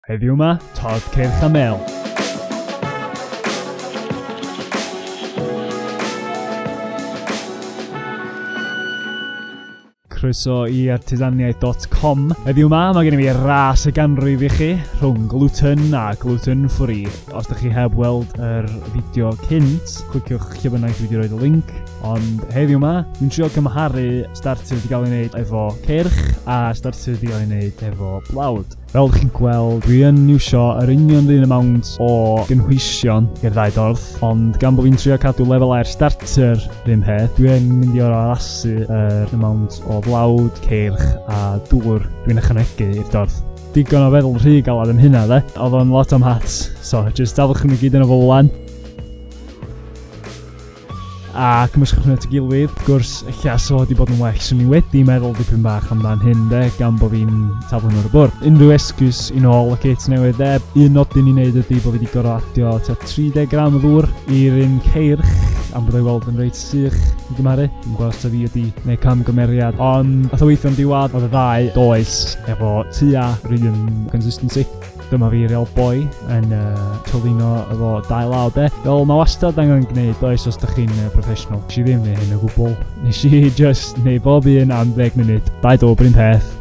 Heddiw 'ma, Todd Cyrch a Mel. croeso i artisaniaeth.com. Heddiw yma, mae gen i fi ras y ganrif i chi rhwng gluten a gluten free. Os ydych chi heb weld yr fideo cynt, cliciwch lle bynnag dwi wedi rhoi y link. Ond heddiw yma, dwi'n trio cymharu starter wedi cael ei wneud efo cyrch a starter wedi cael ei wneud efo blawd. Fel ydych chi'n gweld, dwi yn iwsio yr union run amount o gynhwysion i'r ddau dorf, ond gan bod fi'n trio cadw lefel air starter rhywun peth, dwi yn mynd i o'r arasu yr amount o flawd, ceirch a dŵr dwi'n ychwanegu i'r dorf. Digon o feddwl rhy galad yn hynna dde, oedd o'n lot o'm hats, so jyst dafwch nhw gyd yn y fowlan. A cymysgwch hynny at ei gilydd. Wrth gwrs, ella 'sa fo 'di bod yn well 'swn i wedi meddwl dipyn bach amdan hyn 'de, gan bo' fi'n taflu nhw ar y bwrdd. Unrhyw esgus i nôl y kit newydd de. Un nodyn i wneud ydy bo' fi 'di gor'o' adio tua 30 gram o ddŵr i'r un ceirch am bod o'i weld yn reit sych i gymharu. Dwi'm yn gwbod os 'da fi wedi neud camgymeriad ond nath o weithio'n diwadd. O'dd y ddau does efo tua 'run consistency. Dyma fi real boy yn uh, tylino efo dau law de. Fel mae wastad angen gwneud does os ydych chi'n uh, professional. Nes i ddim neu hyn o gwbl. Nes i just neu bob un am ddeg munud. Dau dŵr bryn peth.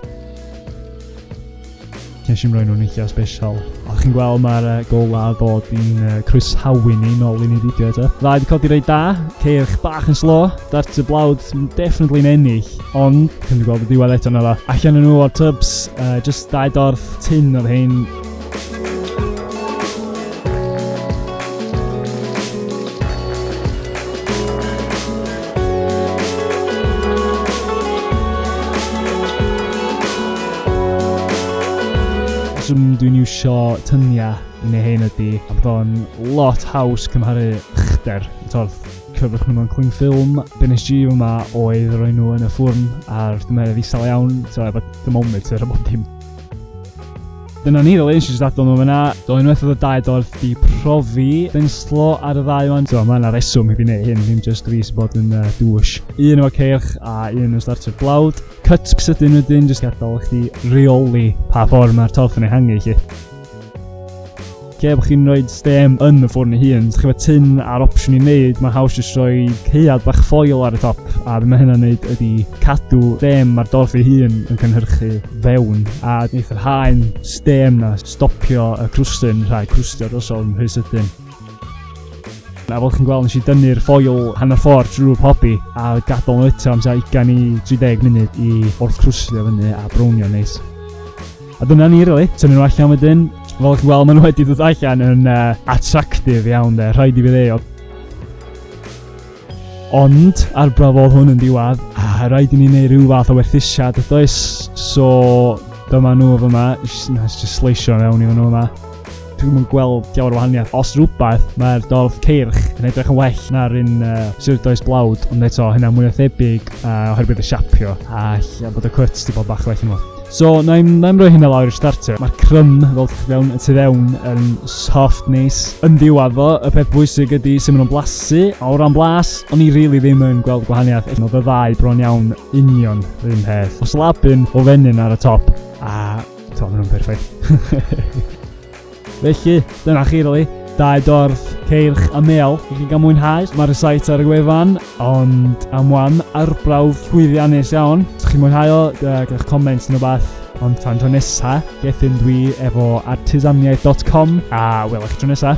Nes i'n rhoi nhw'n eithaf special. A chi'n gweld mae'r uh, gola a bod i'n uh, croesawu ni nôl i ni fideo eto. Dda, wedi codi rei da, ceirch bach yn slo, dart y blawd sy'n definitely yn ennill, ond, chi'n gweld y diwedd eto na dda. Allan yn nhw o'r tubs, uh, just dau dorf, Tun oedd hein. rheswm dwi'n iwsio tyniau yn ei hen ydy, a bod o'n lot haws cymharu chder. Torth, cyfrwch nhw mewn cling ffilm. Be nes i yma oedd roi nhw yn y ffwrn a'r dymeredd isel iawn, so efo thermometer a bob dim. Dyna ni, fel eisiau jyst adon nhw fyna. Do, unwaith oedd y dau dorf di profi denslo ar y ddau o'n. Do, mae yna reswm i fi wneud hyn, ddim just fi sy'n bod yn uh, dwys. Un o'r ceirch a un yn starter blawd. Cuts sydyn wedyn, jyst gadael i chdi reoli pa ffordd mae'r torf yn ei hangu i chi. Lle bod chi'n rhoi stem yn y ffwrn ei hun, so chi efo tyn a'r opsiwn i wneud, mae'n haws jyst rhoi ceuad bach ffoil ar y top, a beth mae hynna'n wneud ydy cadw stem mae'r dorf ei hun yn cynhyrchu fewn, a wneud yr haen stem na stopio y crwstyn rhag crwstio drosodd yn rhy sydyn. A fel chi'n gweld, nes i dynnu'r ffoil hanner ffordd drwy'r pobi a gadael nhw eto am tua 20 i 30 munud i wrth crwsio fyny a brownio neis. A dyna ni really, tynnu nhw allan wedyn. Fel chi weld, maen nhw wedi dod allan yn uh, attractive iawn de, rhaid i fi ddeio. Ond, ar brafodd hwn yn diwad, a ah, rhaid i ni wneud rhyw fath o werthusiad, y does, so dyma nhw fyma, nes just sleisio mewn i nhw yma. Dwi'm yn gweld llawer o wahaniaeth. Os rhywbeth, mae'r dorf ceirch yn edrych yn well na'r un uh, surdoes blawd, ond eto hynna mwy o thebyg uh, oherwydd y siapio a lle bod y cwt di bod bach well yma. So, na i'n rhoi hynna lawr i'r starter. Mae'r crym, fel ydych chi fewn, y tu fewn yn soft nes. Yn ddiwedd fo, y peth bwysig ydy sy'n mynd o'n blasu, a o ran blas, o'n i rili really ddim yn gweld gwahaniaeth. Oedd y ddau bron iawn union yr un peth. Os labyn o fenyn ar y top, a To, maen nhw'n perffaith. Felly, dyna chi rili. Dau dorf, ceirch a mel i chi gael mwynhau. Mae'r sait ar y gwefan, ond am wan arbrawf llwyddiannus iawn. Os chi'n mwynhau o, gyda'r comments yn y bath. Ond tan tro nesa, gethyn dwi efo artisaniaeth.com a welwch chi tro nesa.